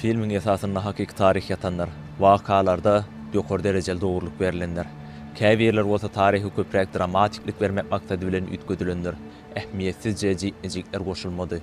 Filmiň esasynda hakyky taryh ýatandyr. Wakalarda ýokary derejeli dogrulyk berlendir. Käbirleri bolsa taryhy köpräk dramatiklik bermek maksady bilen üýtgedilendir. Ähmiýetsizje jikme-jikler goşulmady.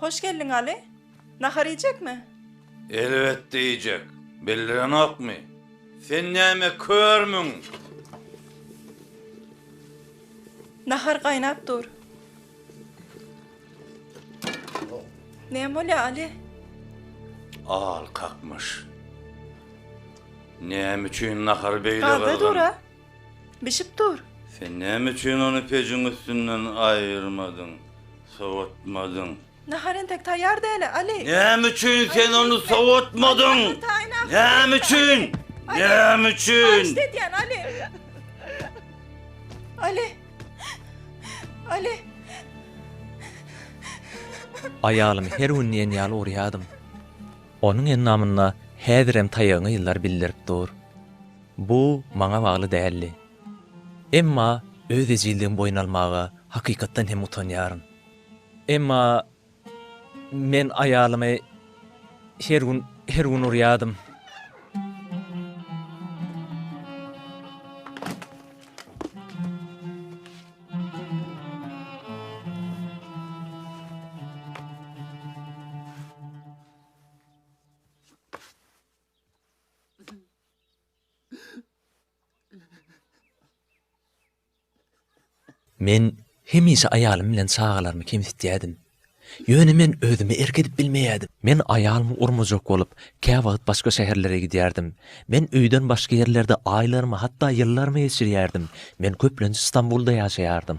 Hoş geldiň Aly. Nahar iýjekmi? Elbetde iýjek. Bildirenokmy? Sen näme körmüň? Nahar gaýnap dur. Näme bolýar Aly? Al kakmyş. Näme üçin nahary beýle gyzgyn? Gaza dur-a. Bişip dur. Sen näme üçin ony pejiň üstünden aýyrmadyň, sowatmadyň? Nahar entek taýýar däl-ä, Aly! Näme üçin sen ony sowatmadyň? Näme üçin? Näme üçin? Alyşt edýän, Aly! Aly! Aly! Aýalymy her gün diýen ýaly urýadym. Onuň endamynda häzirem taýagyňy ýyllar bildirip dur. Bu maňa bagly däldi. Emma öz ejizligimi boýun almaga hakykatdan hem utanýaryn. Emma men aýalymy her gün, her gün urýardym. Men hemişe aýalym bilen çagalarymy kemsitýärdim. Ýöne men özüme erk edip bilmeýärdim. Men aýalymy urmajak bolup, käwagt başga şäherlere gidýärdim. Men öýden başga ýerlerde aýlarymy, hatda ýyllarymy geçirýärdim. Men köplenç Stambulda ýaşaýardym.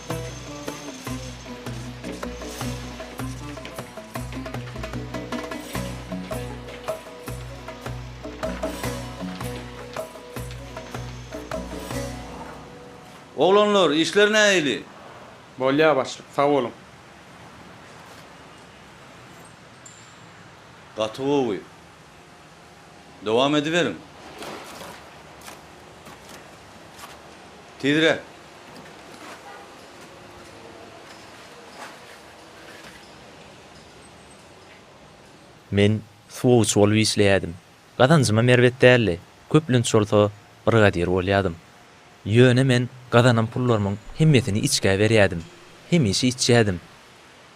Oglanlar, işler nähili? Bolýar başlyk, sag boluň. Gaty gowy. Dowam ediberiň. Tizräk. Men suwagçy bolup işleýädim. Gazanjymam erbet däldi. Köplenç bolsa brigadir bolýadym. Ýöne men gazanan pullarymyň hemmesini içgä berýädim. Hemişe içýädim.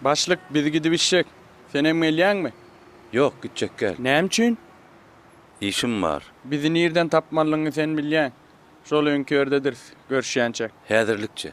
Başlyk, biz gidip içjek. Senem gelýäňmi? Ýok, gitjek däl. Näme üçin? Işim bar. Bizi nirden tapmalyňy sen bilýäň. Şol öňki ýerdedirris, görüşýänçäk. Häzirlikçe.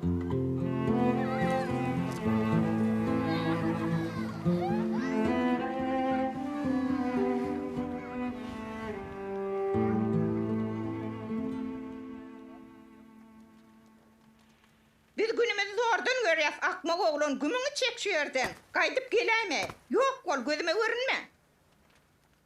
Biz günümizi zordan görýäs, akmak oglan, gümüňi çek şu ýerden! Gaýdyp geläýme! Ýok bol, gözüme görünme!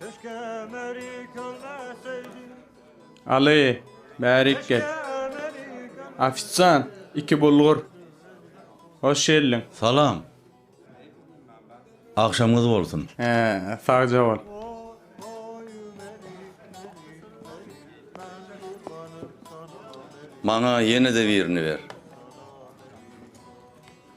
Keşke meri kölmeseydi. Aly, bärik gel. Ofisant, iki bulgur. Hoş geldiň. Salam. Agşamyňyz bolsun. He, sagja bol. Maňa ýene-de birini ber.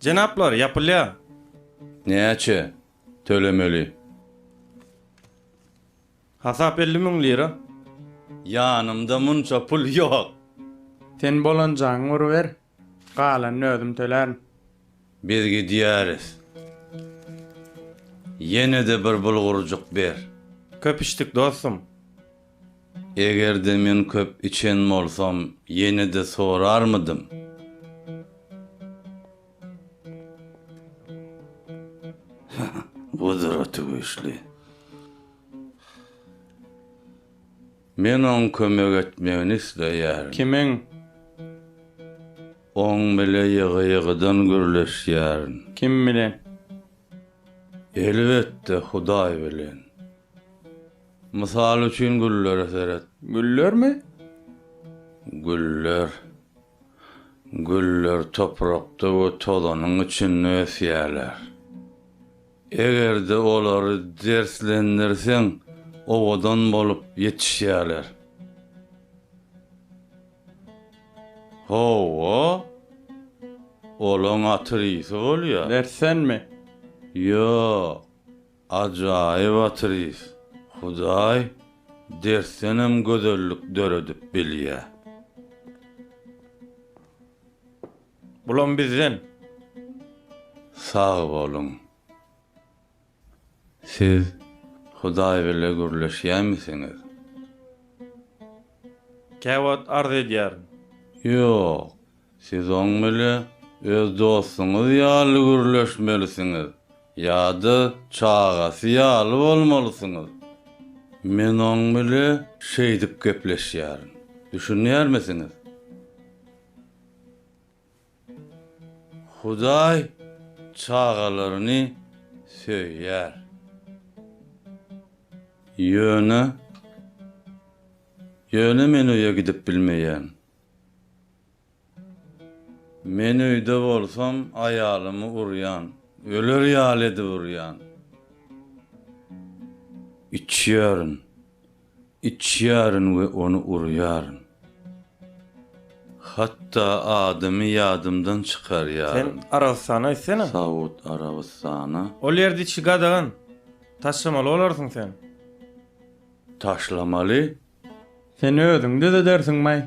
Jenaplar, ýapylýar. Näçe tölemeli? Hasap elli müň lira. Ýanymda munça pul ýok. Sen bolanjaňy uruber. Galanyny özüm tölärin. Biz gidýäris. Ýene-de bir bulgurjyk ber. Köp içdik dostum. Eger-de men köp içen bolsam, ýene-de sorarmydym? Gudraty güýçli. Men oň kömek etmegini isleýärin. Kimiň? Oň bile ýygy-ýygydan gürleşýärin. Kim bilen? Elbetde, Hudaý bilen. Mysal üçin güllere seret. Güllermi? Güller. Güller toprakda we tozanyň içinde ösýärler. Eger-de olary derslendirseň, owadan bolup ýetişýärler. Hawa, olaň aty risi bolýar. Dersenmi? Ýok, ajaýyp aty ris. Hudaý dersdenem gözellik döredip bilýär. Bulam bizden. Sag boluň. Siz Hudaý bile gürleşýämisiňiz? Käwagt arz edýärin. Ýok. Siz oň bile öz dostuňyz ýaly gürleşmelisiňiz ýa-da çagasy ýaly bolmalysyňyz. Men oň bile şeýdip gepleşýärin. Düşünýärmisiňiz? Hudaý çagalaryny söýýär. Ýöne, ýöne men öýe gidip bilmeýän. Men öýde bolsam aýalymy urýan, öler ýaly edip urýan. Içýärin. Içýärin we ony urýaryn. Hatda adymy ýadymdan Sen çykarýaryn. Arabystana gitsene. Saud Arabystana. Ol ýerde içgi gadagan. Taşlamaly bolarsyň sen. Taşlamaly? Sen özüň düzedersiňmaý?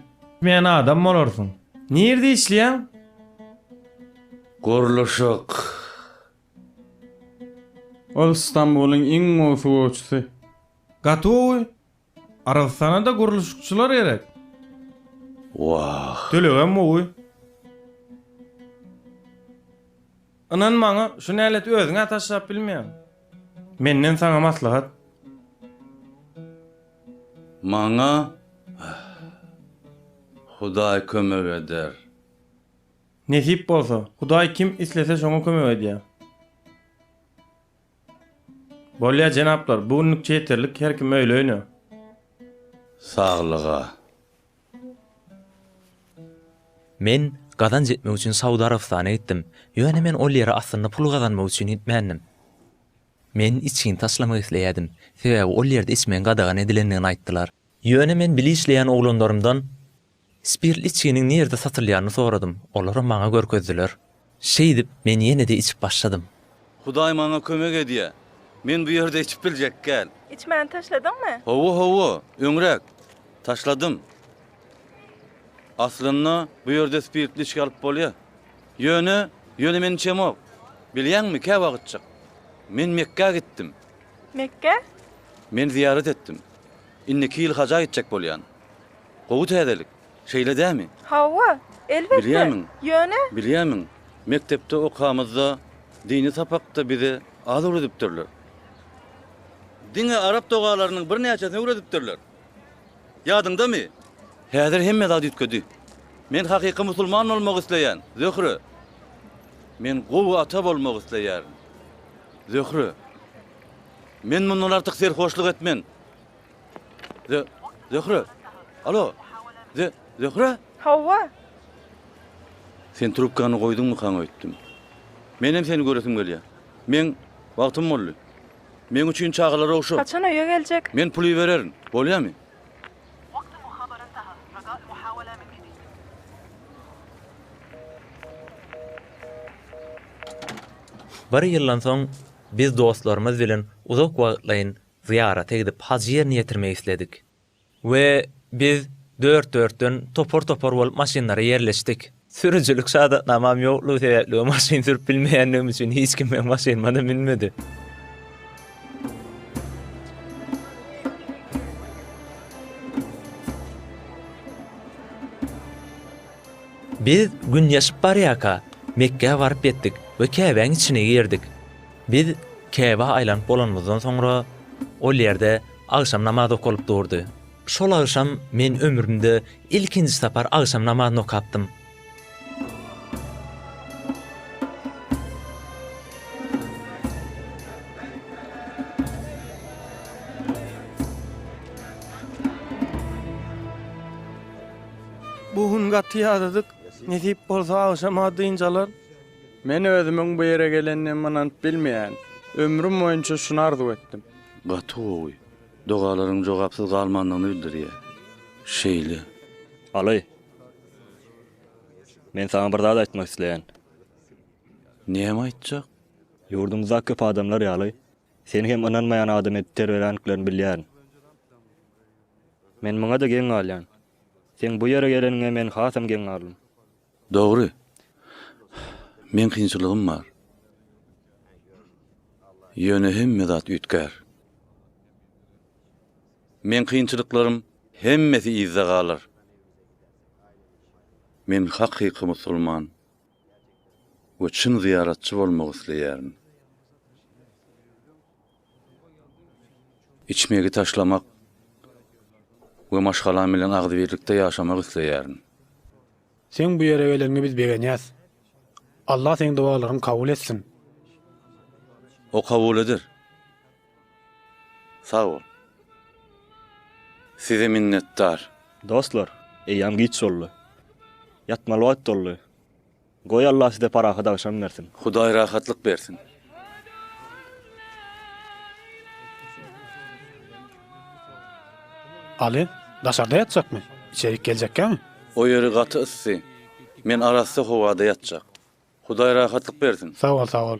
Etmeýän adam bolarsyň. Nirde işleýäň? Gurluşyk. Ol Stambulyň iň gowy suwagçysy. Gatowy Aragystana-da gurluşykçylar gerek. Wah. Tölegem gowy. Ynan maňa, şu näleti özüň-ä taşlap bilmeýäň. Menden saňa maslahat. Maňa Hudaý kömek eder. Nesip bolsa. Hudaý kim islese şoňa kömek edýär. Bolýa jenaplar, bu günlükçe ýeterlik, her kim öýle-öýne. Saglyga. Men gazanç etmek üçin Saud Arabystana gitdim, ýöne men ol ýere aslynda pul gazanmak üçin gitmändim. Men içgini taşlamak isleýärdim, sebäbi ol ýerde içmegiň gadagan edilendigini aýtdylar. Ýöne men bile işleýän oglanlarymdan Spirtli içginiň nirde satylýanyny soradym, olaram maňa görkezdiler. Şeýdip, men ýene-de içip başladym. Hudaý maňa kömek edýä. Men bu ýerde içip biljek gäl. Içmäni taşladyňmy? Hawa, hawa, öňräk. Taşladym. Aslynda, bu ýerde spirtli içgi alyp bolýa. Ýöne, ýöne men içemok. Bilýäňmi, kä wagtjyk. Men Mekgä gitdim. Mekgä? Men zyýarat etdim. Indiki ýyl haja gitjek bolýan. Gowy täzelik, şeýle dämi? Hawa, elbetde. Bilýärmiň? Ýöne. Bilýärmiň, mekdepde okamyzda dini sapakda bize az öwredipdirler. Diňe arap dogalarynyň birnäçesini öwredipdirler. Ýadyňdamy? Häzir hemme zat üýtgedi. Men hakyky musulman bolmak isleýän, Zöhre. Men gowy ata bolmak isleýärin, Zöhre. Men mundan artyk serhoşlyk etmen. Zöhre! Alo! Zöhre! Hawa! Sen trubkany goýduňmykaň öýtdüm. Menem seni göresim gelýär. Meň wagtym boldy. Meň üçin çagalar ogşa. Haçan öýe geljek? Men pul ibererin. Bolýamy? Bir ýyldan soň biz dostlarymyz bilen uzak wagtlaýyn Zyýarata gidip, haj ýerine ýetirmegi isledik. We biz dört-dörtden, topar-topar bolup maşynlara ýerleşdik. Sürüjilik şadatnamam ýoklugy sebäpli we maşyn sürüp bilmeýänligim üçin hiç kim meň maşynyma-da münmedi. Biz gün ýaşyp barýarka, Mekgä baryp ýetdik we Käbäň içine girdik. Biz Käbä aýlanyp bolanymyzdan soňra, ol ýerde agşam namaz okalyp durdy. Şol agşam men ömrümde ilkinji sapar agşam namazyny okapdym. Bu gün gaty ýadadyk. Nesip bolsa agşama dynç alar. Men özümiň bu ýere gelenime ynanyp bilmeýän. Ömrüm boýunça şuny arzuw etdim. Gaty gowy. Dogalaryň jogapsyz galmandygyny bildirýär. Şeýle. Aly. Men saňa bir zat aýtmak isleýän. Näme aýtjak? Ýurdumyzdaky köp adamlar ýaly, seni hem ynanmaýan adam edip terbeländiklerini bilýärin. Men muňa-da geň galýan. Seň bu ýere geleniňe men hasam geň galdym. Dogry. Meň kynçylygym bar. Ýöne hemme zat üýtgär. Meň kynçylyklarym hemmesi yzda galar. Men hakyky musulman we çyn zyýaratçy bolmak isleýärin. Içmegi taşlamak we maşgalam bilen agzybirlikde ýaşamak isleýärin. Seň bu ýere geleniňe biz begenýäs. Allah seň dowalaryňy kabul etsin. O kabul eder. Sag bol. Size minnetdar. Dostlar, eýýäm giç boldy. Ýatmaly wagt boldy. Goý Allah size parahat agşam bersin. Hudaý rahatlyk bersin. Aly, daşarda ýatjakmy? Içerik geljekkämi? O ýeri gaty yssy. Men arassa howada ýatjak. Hudaý rahatlyk bersin. Sag bol, sag bol.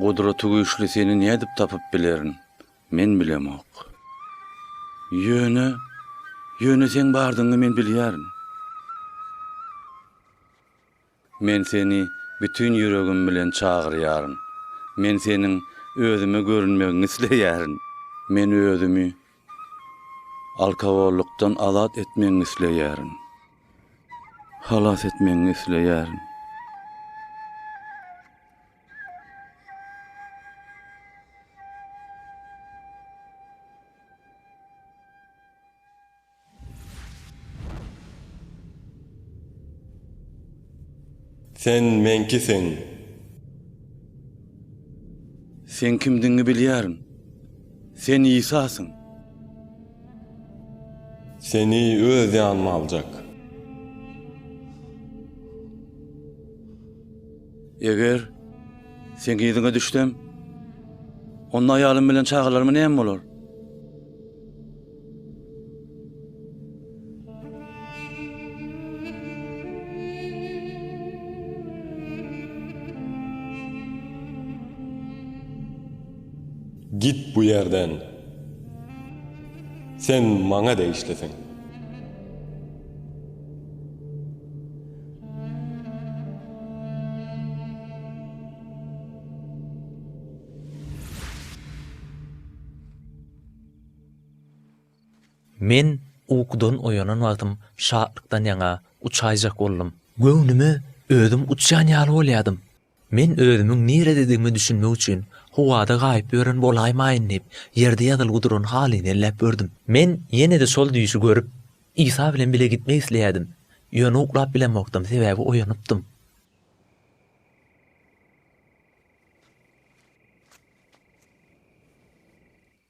Gudraty güýçli seni nädip tapyp bilerin, men bilemok. Ýöne, ýöne seň bardygyňy men bilýärin. Men seni bütin ýüregim bilen çagyrýaryn. Men seniň özüme görünmegiňi isleýärin. Men özümi alkogollykdan azat etmegiňi isleýärin. Halas etmegiňi isleýärin. Sen meňkisiň. Seň kimdigiňi bilýärin. Sen Isasyň. Seni öz ýanyma aljak. Eger Seň yzyňa düşsem, onda aýalym bilen çagalaryma näme bolar? Git bu ýerden! Sen maňa degişlisiň! Men ukudan oýanan wagtym şatlykdan ýaňa uçaýjak boldum. Göwnüme özüm uçýan ýaly bolýadym. Men özümiň nirededigime düşünmek üçin howada gaýyp ýören bolaýmaýyn diýip, ýerde ýazylgy duran halyny elläp gördüm. Men ýene-de şol düýşi görüp, Isa bilen bile gitmek isleýärdim. Ýöne uklap bilemokdym, sebäbi oýanypdym.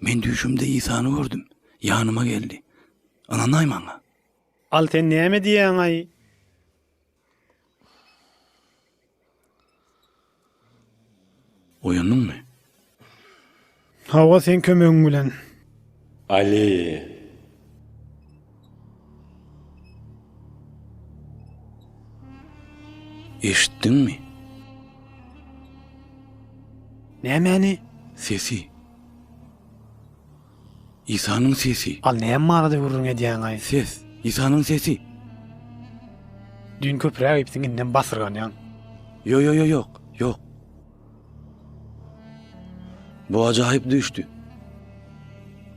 Men düýşümde Isany gördüm. Ýanyma geldi. Ynanaý maňa. Al sen näme diýýäňaý? Oýandyňmy? Hawa, seň kömegiň bilen. Aleýe. Eşitdiňmi? Nämäni? Sesi. Isanyň sesi. Al näme barada gürrüň edýäňaý? Ses. Isanyň sesi. Düýn köpräk iýipsiň indem basyrganýaň. Ýo-ýo-ýo ýok, ýok. Bu ajaýyp düýşdi.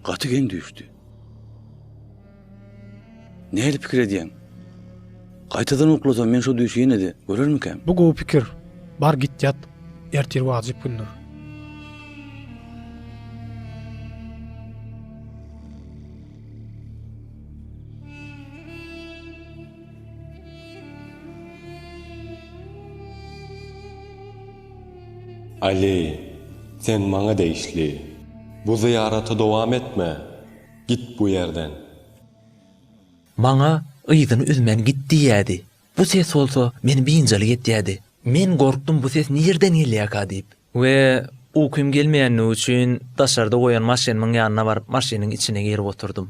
Gaty geň düýşdi. Nädip pikir edýäň? Gaýtadan uklasam men şu düýşi ýene-de görermikäm? Bu gowy pikir. Bar git ýat. Ertir wajyp gündür. Aly, sen maňa degişli. Bu zyýaraty dowam etme. Git bu ýerden. Maňa yzyny üzmän git diýýädi. Bu ses bolsa meni biynjalyk etýädi. Men gorkdum bu ses nirden gelýärka diýip. We ukym gelmeýändigi üçin daşarda goýan maşynymyň ýanyna baryp maşynyň içine girip oturdym.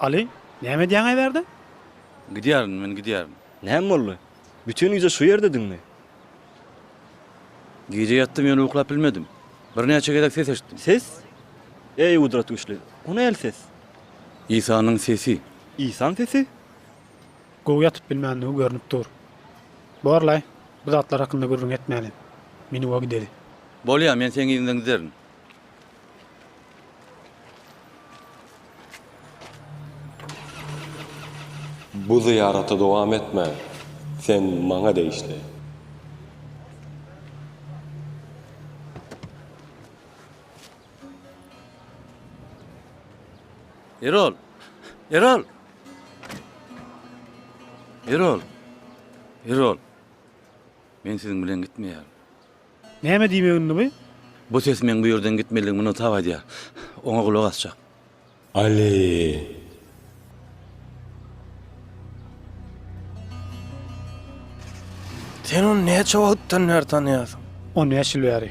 Aly, näme edýäň äberde? Gidýärin, men gidýärin. Näme boldy? Bütin gije şu ýerdediňmi? Gije ýatdym, ýöne uklap bilmedim. Birnäçe gezek ses eşitdim. Ses? Eý, gudrat güýçli, o nähili ses? Isanyň sesi. Isaň sesi? Gowy ýatyp bilmändigi görnüp dur. Bor-laý, bu zatlar hakynda gürrüň etmäli. Meniňow gideli. Bolýa, men seň yzyňdan giderin. Bu zyýaraty dowam etme, sen maňa degişli. Erol! Erol! Erol! Erol! Men siziň bilen gitmeýärin. Näme diýmek indi bu? Bu ses meň bu ýerden gitmelidigimi muny tap aýdýar. Oňa gulak asjak. Aly! Sen ony näçe wagtdan bäri tanýarsyň? On bäş ýyl bäri.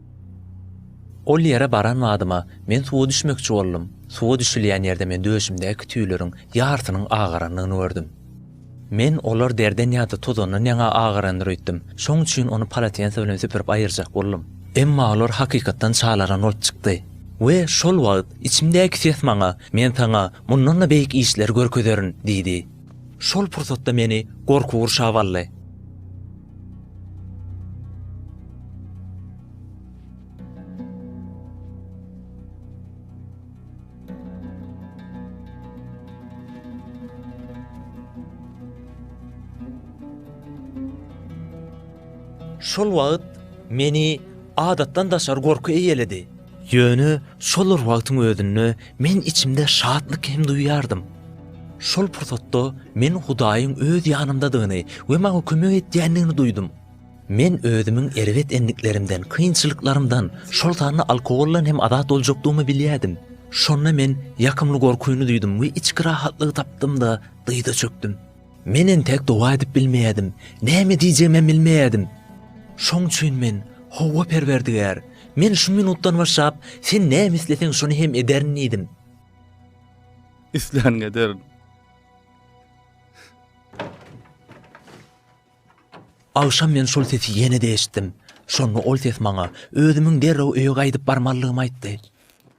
Ol ýere baran badyma, men suwa düşmekçi boldum. Suwa düşülýän ýerde men döşümdäki tüýleriň ýarsynyň agarandygyny gördüm. Men olar derden ýa-da tozandan ýaňa agarandyr öýtdüm. Şoň üçin ony palatensa bilen süpürip aýyrjak boldum. Emma olar hakykatdan çalaran bolup çykdy. We şol wagt içimdäki ses maňa, Men saňa mundan-da beýik işleri görkezerin diýdi. Şol pursatda meni gorky gurşap aldy. Şol wagt meni adatdan daşary gorky eýeledi. Ýöne şol bir wagtyň özünde Men içimde şatlyk hem duýýardym. Şol pursatda men Hudaýyň öz ýanymdadygyny we maňa kömek edýändigini duýdum. Men özümiň erbet endiklerimden, kynçylyklarymdan, şol sanda alkogoldan hem azat boljakdygymy bilýärdim. Şonda men ýakymly gorkyny duýdum we içki rahatlygy tapdym-da, dyza çökdüm. Men entek doga edip bilmeýärdim, näme diýjegimem bilmeýärdim. Şoň üçin men, Hawa, Perwerdigär, men şu minutdan başlap, Sen näme isleseň, şony hem ederin diýdim. Islänini ederin. Agşam men şol sesi ýene-de eşitdim. Şonda ol ses maňa özümiň derrew öýe gaýdyp barmalydygymy aýtdy.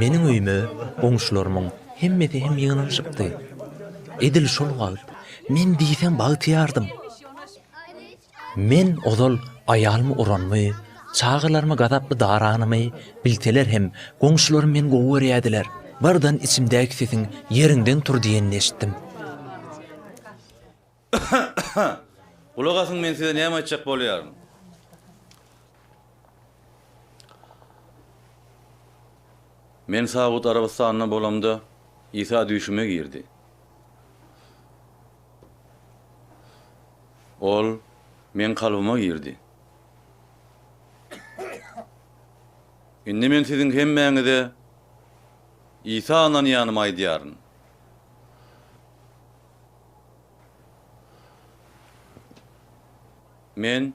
Meniň öýüme goňşularymyň hemmesi hem ýygnanyşypdy. Edil şol wagt men diýseň bagtyýardym. Men ozal aýalymy uranymy, çagalarymy gazaply daranymy bilseler hem, goňşularym meni gowy görýärdiler. Birden içimdäki sesiň Ýeriňden tur diýenini eşitdim. Gulak asyň, men size näme aýtjak bolýaryn. Men Saud Arabystanyna bolamda, Isa düýşüme girdi. Ol meň kalbyma girdi. Indi men siziň hemmäňize Isa ynanýanymy aýdýaryn. Men.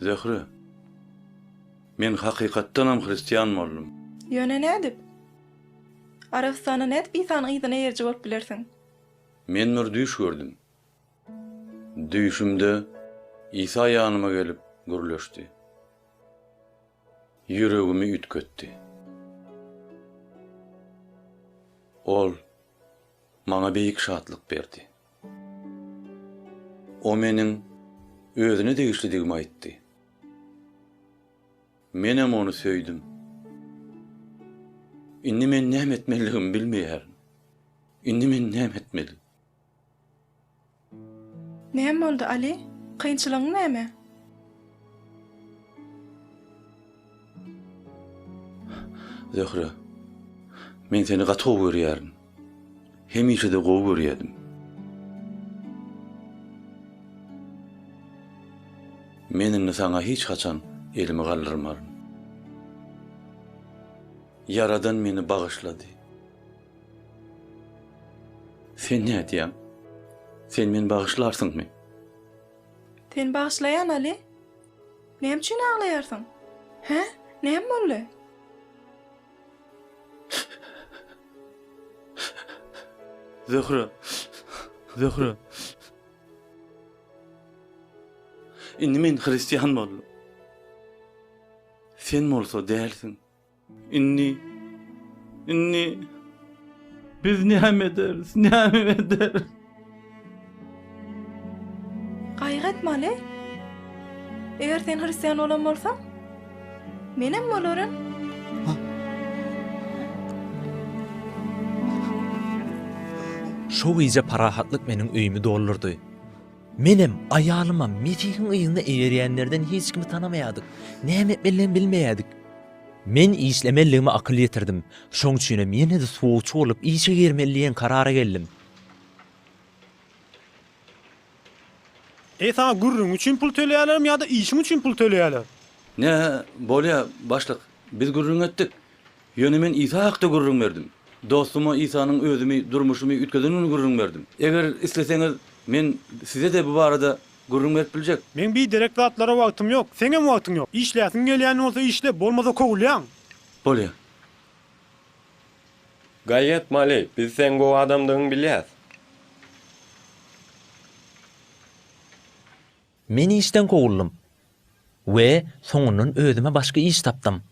Zöhre. Men hakykatdanam hristian boldum. Ýöne nädip? Arabystanda nädip Isanyň yzyna eýeriji bolup bilersiň? Men bir düýş gördüm. Düýşümde Isa ýanyma gelip gürleşdi. Ýüregimi üýtgetdi. Ol Maňa beýik şatlyk berdi. O meniň özüne degişlidigimi aýtdy. Menem ony söýdüm. Indi men näme etmelidigimi bilmeýärin. Indi men näme etmeli? Näme boldy, Aly? Kynçylygyň näme? Zöhre, men seni gaty gowy görýärin. Hemişe-de gowy görýädim. Men indi saňa hiç haçan elimi galdyrmaryn. Ýaradan meni bagyşlady. Sen nädýäň? Sen meni bagyşlarsyňmy? Seni bagyşlaýan, Aly. Näme üçin aglaýarsyň? Hä? Näme boldy? Zöhre. Zöhre. Indi men hristian boldum. Sen bolsa dälsiň. Indi, indi biz näme ederis, näme ederis? Gaýgy etme, Ali. Eger sen hristian bolan bolsaň, menem bolaryn. Şo gije parahatlyk meniň öýümi doldurdy. Menem, aýalymam Mesihiň yzyna eýerýänlerden hiç kimi tanamaýardyk. Näme etmelidigimi bilmeýärdik. Men işlemelidigime akyl ýetirdim. Şoň üçinem ýene-de suwagçy bolup işe girmeli diýen karara geldim. Eý, saňa gürrüň üçin pul töleýärlermi ýa-da işiň üçin pul töleýärler? Nähä, bolýar, başlyk. Biz gürrüň etdik. Ýöne men Isa hakda gürrüň berdim. Dostuma Isanyň özümi, durmuşymy üýtgedenini gürrüň berdim. Eger isleseňiz, men size-de bu barada gürrüň berip biljek. Meň biderek zatlara wagtym ýok. Seňem wagtyň ýok. Işläsiň gelýän bolsa işle, bolmasa kowulýaň. Bolýar. Gaýat Mali, biz seň gowy adamdygyňy bilýäs. Men işden kowuldym we soňundan özüme başga iş tapdym.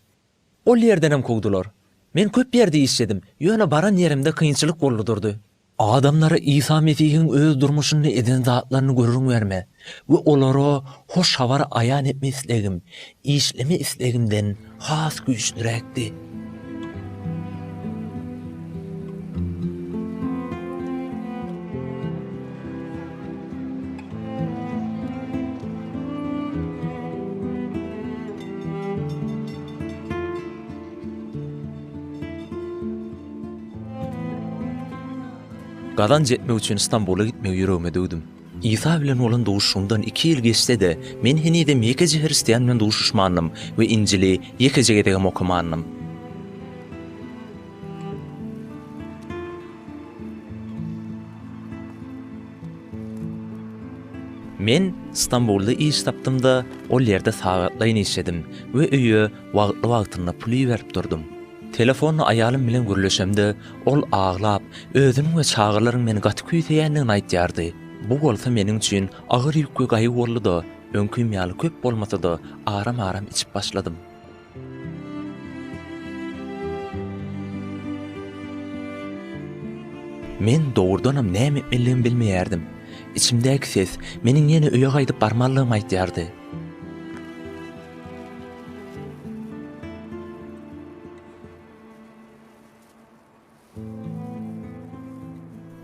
Ol ýerdenem kowdular. Men köp ýerde işledim, ýöne baran ýerimde kynçylyk boldy durdy. Adamlara Isa Mesihiň öz durmuşynda eden zatlaryny gürrüň berme we olara Hoş Habary aýan etme islegim, işleme islegimden has güýçliräkdi. Gazanç etmek üçin Stambula gitmegi ýüregime düwdüm. Isa bilen bolan duşuşygymdan iki ýyl geçse-de, men henizem ýekeje hristian bilen duşuşmandym we Injili ýekeje gezegem okamandym. Men Stambulda iş tapdym-da, ol ýerde sagatlaýyn işledim we öýe wagtly-wagtynda pul iberip durdum. Telefonda aýalym bilen gürleşemde, ol aglap, özüniň we çagalaryň meni gaty küýseýändigini aýdýardy. Bu bolsa meniň üçin agyr ýük we gaýgy boldy-da, öňkim ýaly köp bolmasa-da, aram-aram içip başladym. Men dogrudanam näme etmeligimi bilmeýärdim. Içimdäki ses meniň ýene öýe gaýdyp barmalydygymy aýdýardy.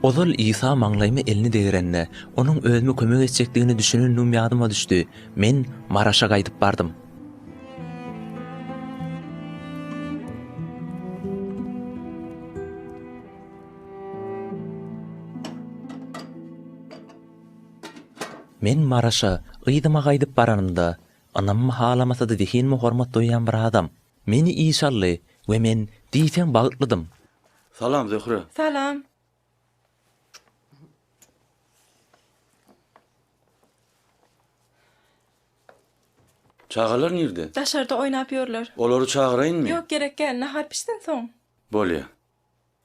Ozal Isa maňlaýyma elini degrende, Onuň özüme kömek etjekdigine düşünendigim ýadyma düşdi. Men Maraşa gaýdyp bardym. Men Maraşa, yzyma gaýdyp baranymda, ynammy-halamasa-da zehinime hormat duýýan bir adam, Meni iş aldy we men diýseň bagtlydym. Salam Zöhre. Salam. Çagalar nirde? Daşarda oýnap ýörler. Olary çagyraýynmy? Ýok gerek gäl nahar pişsin soň. Bolýa.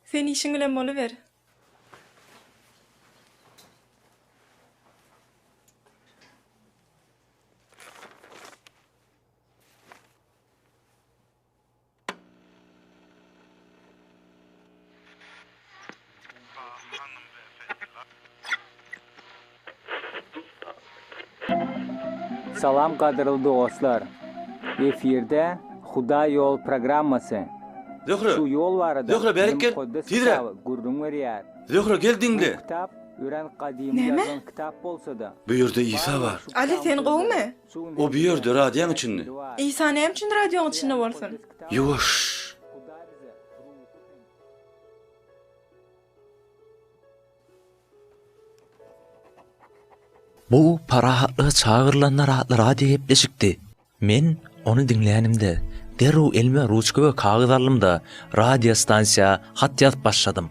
Sen işiň bilen boluber. Salam gadyrly dostlar. Efirde Hudaý ýol programmasy. Zöhre. Şu ýol barada. Zöhre bärik gel. Tizre. Gürrüň berýär. Zöhre gel diňle. Kitap örän gadymy ýazan kitap bolsa-da. Bu ýerde Isa bar. Ali sen gowumy? O bu ýerde radiýaň içinde. Isa näme üçin radioň içinde bolsun? Ýuwaş! Bu parahatlyga çagyrylanlar atly radio gepleşikdi. Men ony diňlänimde, derrew elime ruçka we kagyz aldym-da, radio stansiýa hat ýazyp başladym.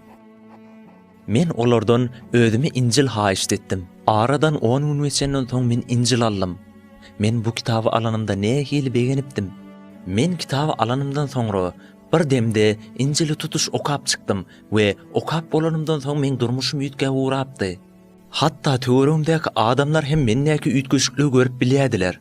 Men olardan özüme Injil haýyşt etdim. Aradan on gün geçenden soň men Injil aldym. Men bu kitaby alanymda nähili begenipdim! Men kitaby alanymdan soňra, bir demde Injili tutuş okap çykdym we okap bolanymdan soň meň durmuşym üýtgäp ugrapdy. Hatda töweregimdäki adamlar hem mendäki üýtgeşikligi görüp bilýärdiler.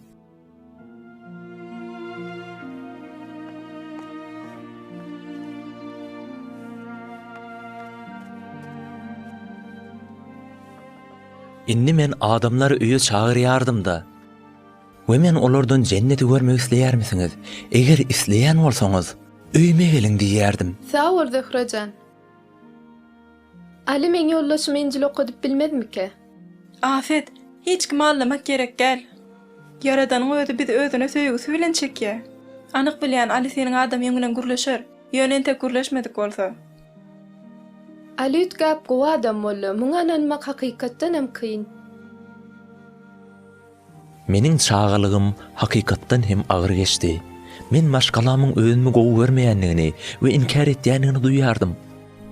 Indi men adamlary öýe çagyrýardym-da. We men olardan Jenneti görmek isleýärmisiňiz? Eger isleýän bolsaňyz, öýüme geliň diýýärdim. Sag bol Zöhre jan. Aly meň ýoldaşym Injil okadyp bilmezmika? Afet, hiç kimi allamak gerek däl. Ýaradanyň özi bizi özüne söýgüsi bilen çekýä. Anyk bilýän Aly seniň adamyň bilen gürleşer, ýöne entek gürleşmedik bolsa. Aly üýtgäp gowy adam boldy, muňa ynanmak hakykatdanam kyn. Meniň çagalygym hakykatdan hem agyr geçdi. Men maşgalamyň özümi gowy görmeýändigini we inkär etýändigini duýýardym.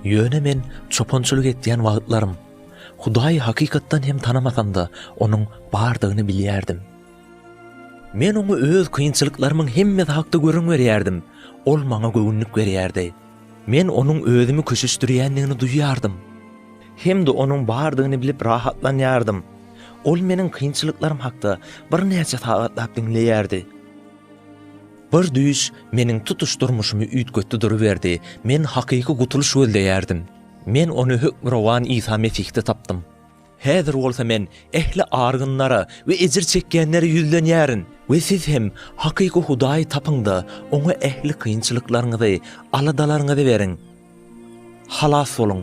Ýöne men çopançylyk etýän wagtlarym, Hudaýy hakykatdan hem tanamasam-da, onuň bardygyny bilýärdim. Men oňa öz kynçylyklarymyň hemmesi hakda gürrüň berýärdim, ol maňa göwünlik berýärdi. Men onuň özümi köşeşdirýändigini duýýardym. Hem-de onuň bardygyny bilip rahatlanýardym. Ol meniň kynçylyklarym hakda birnäçe sagatlap diňleýärdi. Bir düýş meniň tutuş durmuşymy üýtgetdi duruberdi, men hakyky gutulyş gözleýärdim. Men ony Hökmürowan Isa Mesihde tapdym. Häzir bolsa men ähli argynlara we ejir çekýänlere ýüzlenýärin we siz hem hakyky Hudaýy tapyň-da, Oňa ähli kynçylyklaryňyzy, aladalaryňyzy beriň. Halas boluň!